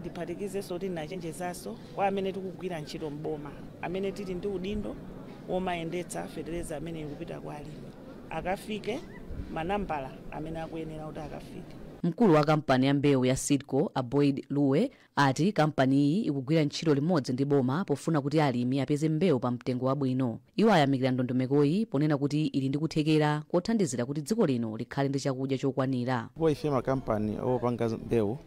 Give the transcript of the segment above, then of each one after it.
Ndiphatikizenso kuti ndinachenjezanso kwa amene tikugwira ntchito m'boma amene tili ndi udindo womayendetsa fetereza ameneyu kupita kwa alimi akafike manambala amene akuyenera kuti akafike. Mkulu wa kampani ya mbewu ya Seedco, a Boyd Luwe, ati kampani iyi ikugwira ntchito limodzi ndi boma pofuna kuti alimi apeze mbewu pa mtengo wabwino. Iwo ayamikira ndondomekoyi ponena kuti ili ndi kuthekera kothandizira kuti dziko lino likhale ndi chakudya chokwanira. Kwa ife makampani opanga mbewu,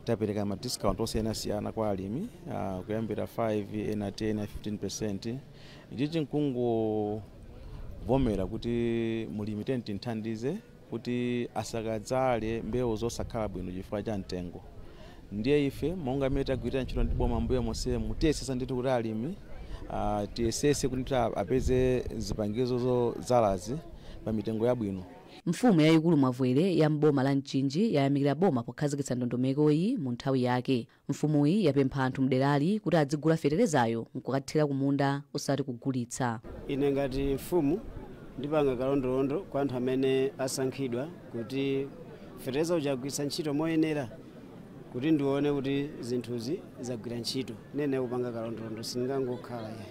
tapereka ma discount osiyanasiyana kwa alimi uh, kuyambira 5 ena 10 ena 15 percent ichichi nkungovomera kuti mulimi tiyeni timthandize kuti asakadzale mbewu zosakhala bwino chifukwa cha mtengo ndiye ife monga amene tagwirira ntchito ndi boma mbuyo monsemu tiyesesa ndithu kuti alimi uh, tiyesese kuti apeze zipangizo zodzalazi pa mitengo yabwino Mfumu yayikulu Mavwere ya m'boma la Mchinji yayamikira boma pokhazikitsa ndondomeko-yi mu nthawi yake. Mfumu-yi yapempha anthu mderali kuti adzigula fetereza-yo nkukathira kumunda osati kugulitsa. Ine ngati mfumu ndipanga kalondolondo kwa anthu amene asankhidwa kuti fetereza uja agwiritse ntchito moyenera. kuti ndione kuti zinthuzi zagwira ntchito nene kupanga kalondolondo sindingangokhala ayi.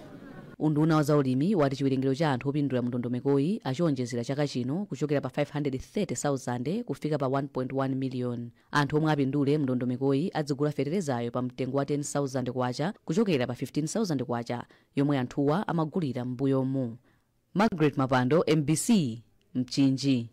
Unduna wa zaulimi wati chiwerengero cha anthu opindula mu ndondomekoyi achiwonjezera chaka chino kuchokera pa 530,000 kufika pa 1.1 miliyoni. Anthu omwe apindule mu ndondomekoyi adzigula feterezayo pa mtengo wa 10,000 kwacha kuchokera pa 15,000 kwacha yomwe anthuwa amagulira m'mbuyomu. Margaret Mapando, mbc, Mchinji.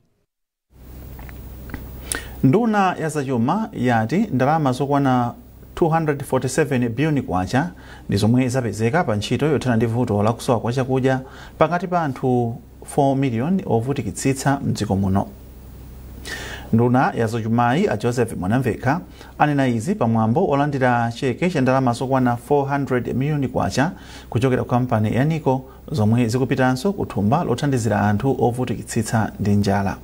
nduna ya zachuma yati ndalama zokwana 247 biliyoni kwacha ndi zomwe zapezeka pa ntchito yothana ndi vuto la kusowa kwa chakudya pakati pa anthu 4 miliyoni ovutikitsitsa mdziko muno nduna ya zachumayi a joseph mwanamvekha anena izi pamwambo olandira cheke cha ndalama zokwana 400 miliyoni kwacha kuchokera ku kampani ya nico zomwe zikupitanso ku thumba lothandizira anthu ovutikitsitsa ndi njala.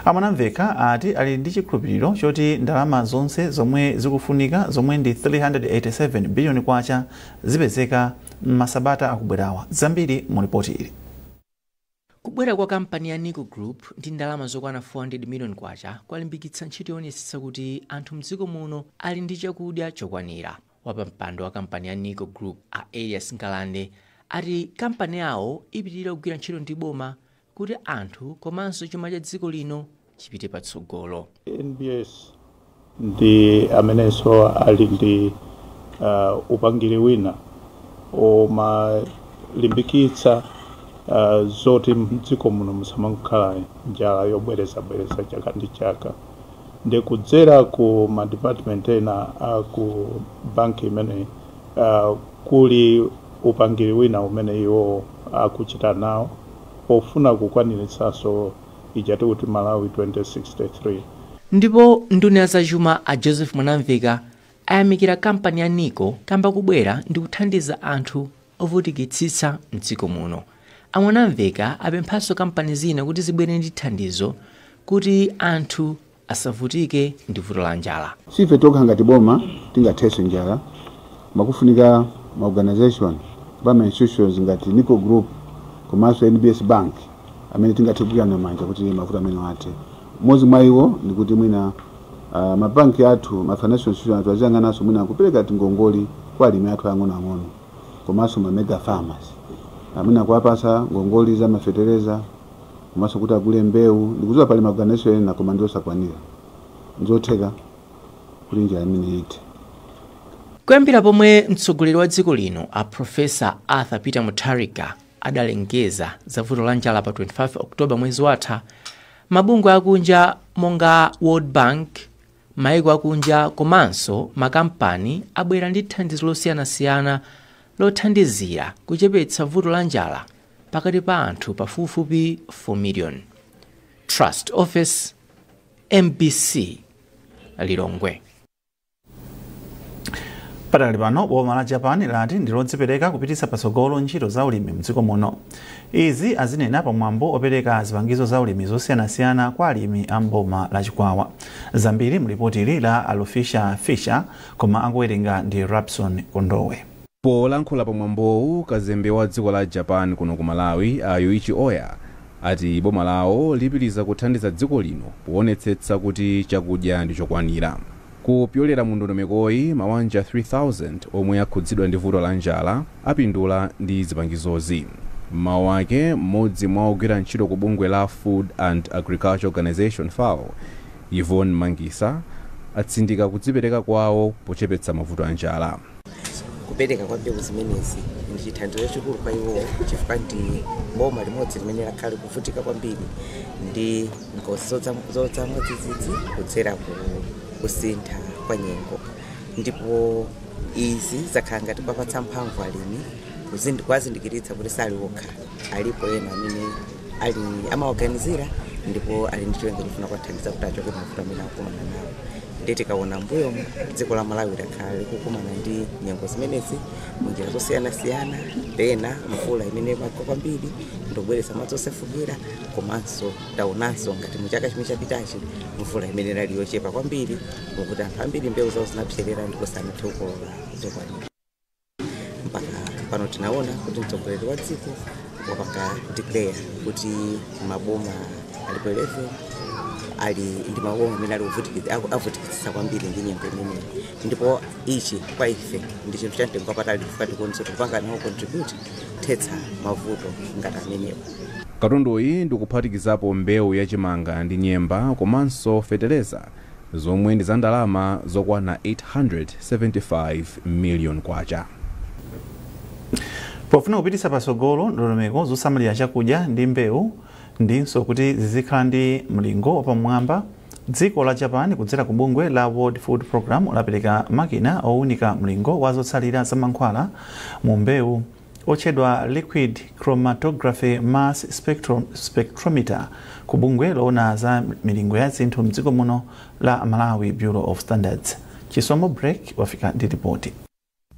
A Mwanamvekha ati ali ndi chikhulupiliro choti ndalama zonse zomwe zikufunika zomwe ndi K387 biliyoni zipezeka m'masabata akubwerawa. Zambiri mu lipoti ili. Kubwera kwa kampani ya Nico Group ndi ndalama zokwana K400 million kwalimbikitsa ntchito yoonetsetsa kuti anthu m'dziko muno ali ndi chakudya chokwanira. Wapampando wa kampani ya Nico Group, a Elias Ngalande, ati kampani yawo ipitilira kugwira ntchito ndi boma kuti anthu komanso chuma cha dziko lino chipite patsogolo. NBS ndi amenenso ali ndi uh, upangiri wina umalimbikitsa uh, zoti mdziko muno musamangokhala njala yobwerezabwereza chaka ndi chaka ndi kudzera ku madepartment ena a ku banki imene uh, kuli upangiri wina umene iwo akuchita nawo pofuna kukwaniritsanso ija tikuti Malawi 2063. Ndipo nduna ya zachuma a Joseph Mwanamveka ayamikira kampani ya Nico kamba kobwera ndikuthandiza anthu ovutikitsitsa mdziko muno. A Mwanamveka apemphanso kampani zina kuti zibwere ndi thandizo kuti anthu asavutike ndi vuto la njala. Siife tokha ngati boma tingathese njala koma kufunika ma organisation kapena ma institutions ngati Nico Group komanso NBS Bank amene tingathe kugwirana manja kuti mavuto amenewa athe. Mmodzi mwa iwo ndi kuti mwina ah, ma bank athu, ma financial institution athu aziyang'ananso mwina kupereka tingongole kwa alimi athu ang'onoang'ono komanso ma mega farmers. Ah, Mwina kuwapatsa ngongole za ma fetereza, komanso kuti agule mbewu. Ndikudziwa pali maorganization ena koma ndi osakwanira. Nzotheka kuti njala imeneyi ithe. Kuyambira pomwe mtsogoleri wa dziko lino a Professor Arthur Peter Mutharika adalengeza za vuto la njala pa 25 October mwezi watha, mabungwe akunja monga World Bank, Maiko akunja komanso makampani abwera ndi thandizo losiyanasiyana lothandizira kuchepetsa vuto la njala pakati pa anthu pafupifupi 4 miliyoni. Trust Ofesi, mbc Lilongwe. Padakali pano, boma la Japan lati ndilodzipereka kupititsa patsogolo ntchito za ulimi mdziko muno. Izi azinena pa mwambo opereka zipangizo za ulimi zosiyanasiyana kwa alimi a m'boma la Chikwawa. Zambiri mu lipoti la Alufisha Fisher koma akuwerenga ndi Rabson Kondowe. Polankhula pa mwambowu, kazembe wa dziko la Japan kuno ku Malawi a Yuichi Oya ati boma lawo lipitiliza kuthandiza dziko lino powonetsetsa kuti chakudya ndi chokwanira. Kupyolera mu ndondomekoyi, mawanja 3,000 omwe akhudzidwa ndi vuto la njala apindula ndi zipangizozi. M'mawu ake, m'modzi mwa ogwira ntchito ku bungwe la Food and Agriculture Organisation, FAO, Yvonne Mmangisa, atsindika kudzipereka kwawo pochepetsa mavuto a njala. kupereka kwa mbewu zimenezi ndi chithandizo chachikulu kwa iwo chifukwa ndi boma limodzi limene lakhala likuvutika kwambiri ndi ngozi zodza mwadzidzidzi kudzera ku kusintha kwa nyengo ndipo izi zakhala ngati kuwapatsa mphamvu alimi kuwazindikiritsa kuti sali okha alipo ena amene amawaganizira ndipo ali ndi cholinga chofuna kuwathandiza kuti achoke mavuto amene akukumana nawo ndiye tikaona mbuyo dziko la malawi lakhala likukumana ndi nyengo zimenezi munjira zosiyanasiyana pena mvula imene imagwa kwambiri ndikubweretsa madzi osefukira komanso taonanso ngati mu chaka chimene chapitachi mvula imene inali yochepa kwambiri moti anthu ambiri mbewu zawo zinapserera ndipo sanathe kukolola zokwanira mpaka pano tinaona kuti mtsogoleri wa dziko wapanga declare kuti maboma alipo 11 ali ndi maboma amene ali ovutikitsa- aku- avutikitsitsa kwambiri ndi nyengo imeneyi ndipo ichi kwa ife ndi chinthu cha mtengo wapatali chifukwa tikuonetsa tikupanga nawo contribute kuthetsa mavuto ngati amenewa katunduyi ndikuphatikizapo mbewu yachimanga ndi nyemba komanso feteleza zomwe ndi za ndalama zokwana K875 miliyoni. Pofuna kupititsa patsogolo ndondomeko zosamalira chakudya ndi mbewu ndinso kuti zizikhala ndi mlingo wapamwamba, dziko la Japan kudzera ku bungwe la World Food Programme lapereka makina owunika mlingo wa zotsalira za mankhwala mu mbewu, otchedwa liquid chromatography mass spectrometer ku bungwe loona za milingo ya zinthu mdziko muno la Malawi Bureau of Standards. Chisomo Break wafika ndi lipoti.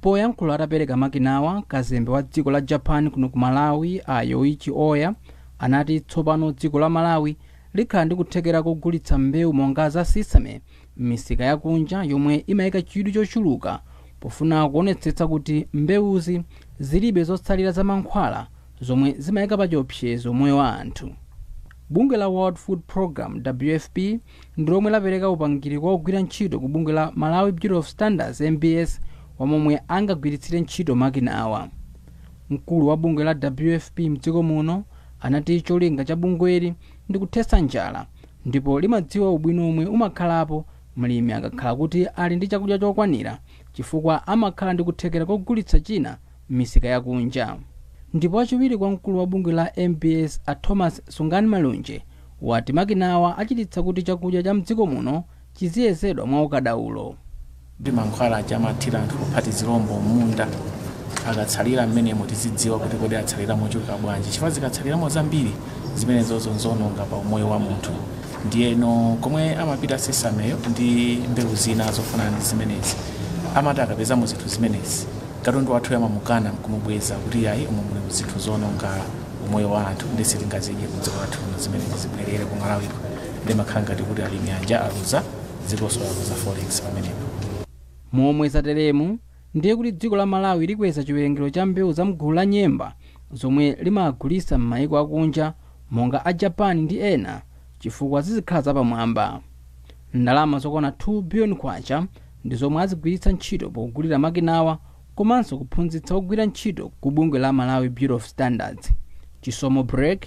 poyankhula atapereka makinawa kazembe wa dziko la japan kuno ku malawi a yoichi oya anati tsopano dziko la malawi likhala ndi kuthekera kogulitsa mbewu monga za sesame m'misika yakunja yomwe imaika chidwi chochuluka pofuna kuonetsetsa kuti mbewuzi zilibe zotsalira za mankhwala zomwe zimaika pachiopsezo moyo wa anthu. Bungwe la World Food Programme, WFP, ndi lomwe lapereka upangiri kwa ogwira ntchito ku bungwe la Malawi Bureau of Standards, MBS, wa momwe angagwiritsire ntchito makinawa. Mkulu wa bungwe la WFP m'dziko muno anati cholinga cha bungweli ndi kuthetsa njala ndipo limadziwa ubwino omwe umakhalapo mlimi akakhala kuti ali ndi chakudya chokwanira chifukwa amakhala ndi kuthekera kogulitsa china m'misika ya kunja. Ndipo wachiwiri kwa mkulu wa bungwe la MBS a Thomas Senganimalunje wati makinawa achititsa kuti chakudya cha m'dziko muno chiziyezedwa mwa ukadaulo. ndi mankhwala aja amathira anthu opha tizilombo m'munda akatsalira m'menemo tizidziwa kuti kodi atsalira mochuluka bwanji chifukwa zikatsaliramo zambiri zimenezozo nzononga pa umoyo wa munthu ndiyeno komwe amapita sesameyo ndi mbewu zina zofanana ndi zimenezi amati akapezamo zinthu zimenezi katundu wathuyu amamukana nkumubweza kuti ayi umu muli zinthu zononga umoyo wa anthu ndiye sitingazidye kudziko lathu zimenezi zibwerere ku malawi ndimakhala ngati kuti alimi aja aluza dzikonso aluza forex pamenepo. Momwe zateremu ndiye kuti dziko la Malawi likweza chiwerengero cha mbewu za mgulu la nyemba zomwe limagulitsa mmaiko akunja monga a Japan ndi ena chifukwa zizikhala zapamwamba. Ndalama zokwana K2 billion ndi zomwe azigwiritsa ntchito pogulira makinawa komanso kuphunzitsa ogwira ntchito ku bungwe la Malawi Bureau of Standards. Chisomo Break,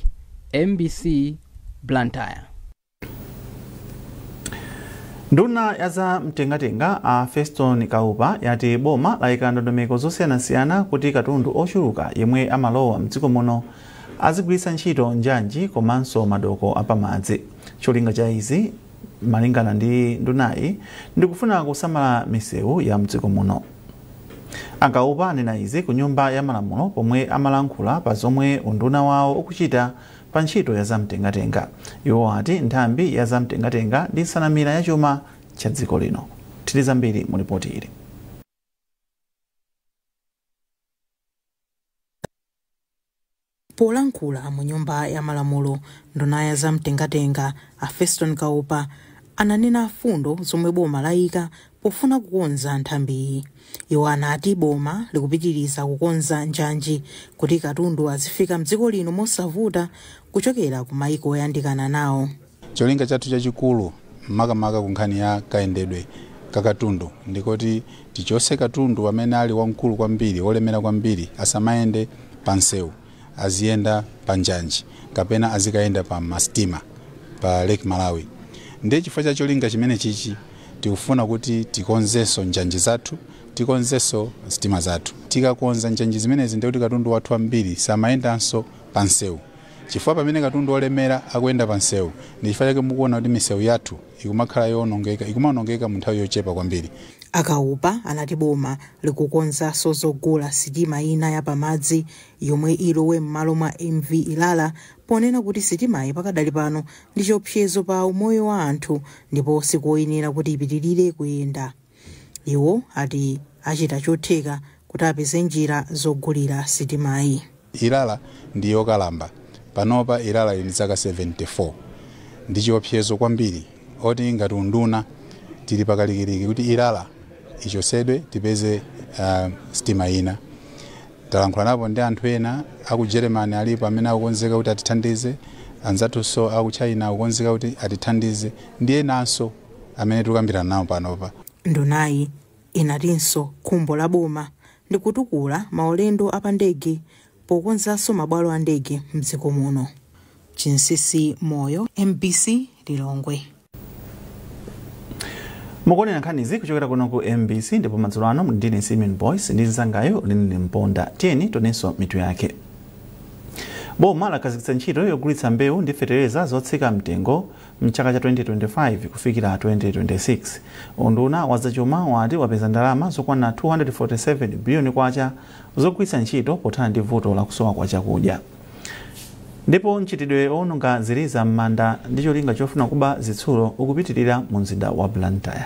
mbc, Blantyre. nduna ya za mtengatenga a feston kaupa yati boma layika ndondomeko zosiyanasiyana kuti katundu ochuluka yemwe amalowa mdziko muno azigwiritsa ntchito njanji komanso madoko apamadzi cholinga cha izi malingana ndi ndunayi ndikufuna kusamala misewu ya mdziko muno A Kaupa anena izi ku nyumba ya malamulo pomwe amalankhula pa zomwe unduna wawo ukuchita pa ntchito ya za mtengatenga. Iwo ati nthambi ya za mtengatenga ndi nsanamira ya chuma cha dziko lino. Tili zambiri mu lipoti ili. Polankhula mu nyumba ya malamulo, nduna ya za mtengatenga a Feston Kaupa ananena fundo zomwe boma layika pofuna kukonza nthambiyi. Iwo anati boma likupitiliza kukonza njanji kuti katundu azifika mdziko lino mosavuta kuchokera ku mayiko oyandikana nawo. Cholinga chathu chachikulu makamaka ku nkhani ya kayendedwe ka katundu ndi koti tichotse katundu amene ali wamkulu kwambiri, wolemera kwambiri, asamayende pa msewu, aziyenda pa njanji kapena azikayenda pa masitima pa Lake Malawi. Ndiye chifukwa cha cholinga chimenechichi tikufuna kuti tikonzenso njanji zathu, tikonzenso sitima zathu. Tikakonza njanji zimenezi ndiye kuti katundu wathu wambiri samayendanso pa msewu. Chifukwa pamene katundu wolemera akuyenda pa msewu, ndi chifukwa chake mukuwona kuti misewu yathu ikumakhala yowonongeka, ikumawonongeka mu nthawi yochepa kwambiri. A Kaupa anati boma likukonzanso zogula sitima ina ya pamadzi yomwe ilowe m'malo mwa MV Ilala ponena kuti sitimayi pakadali pano ndi chiopsezo pa umoyo wa anthu ndipo sikoyenera kuti ipitilire kuyenda. Iwo ati achita chotheka kuti apeze njira zogulira sitimayi. Ilala ndi yokalamba. Panopa Ilala ili ndi zaka 74. Ndi chiopsezo kwambiri oti ngati unduna tili pakalikiliki kuti Ilala ichotsedwe tipeze uh, sitima ina. Talankhulanapo ndi anthu ena aku Germany alipo amene akukonzeka kuti atithandize, anzathunso aku China akukonzeka kuti atithandize ndi enanso. amene tikukambirana nawo panopa. Ndunayi inatinso khumbo la boma ndi kutukula maulendo a pandege pokonzanso mabwalo a ndege m'dziko muno. Chinsisi Moyo, mbc Lilongwe. mukuonera nkhanizi kuchokera kuno ku mbc ndipo madzulo ano muli ndine Simon Boyce ndi mzangayo Linly Mponda tiyeni tionenso mitu yake boma lakhazikitsa ntchito yogulitsa mbewu ndi fetereza zotsika mtengo M'chaka cha 2025 kufikira 2026, unduna wa zachuma wati wapeza ndalama zokwana K247 biliyoni zogwiritsa ntchito pothana ndi vuto la kusowa kwa chakudya ndipo mchitidwe owononga ziliza m'manda ndi cholinga chofuna kuba zitsulo ukupitirira mu mzinda wa Blantyre.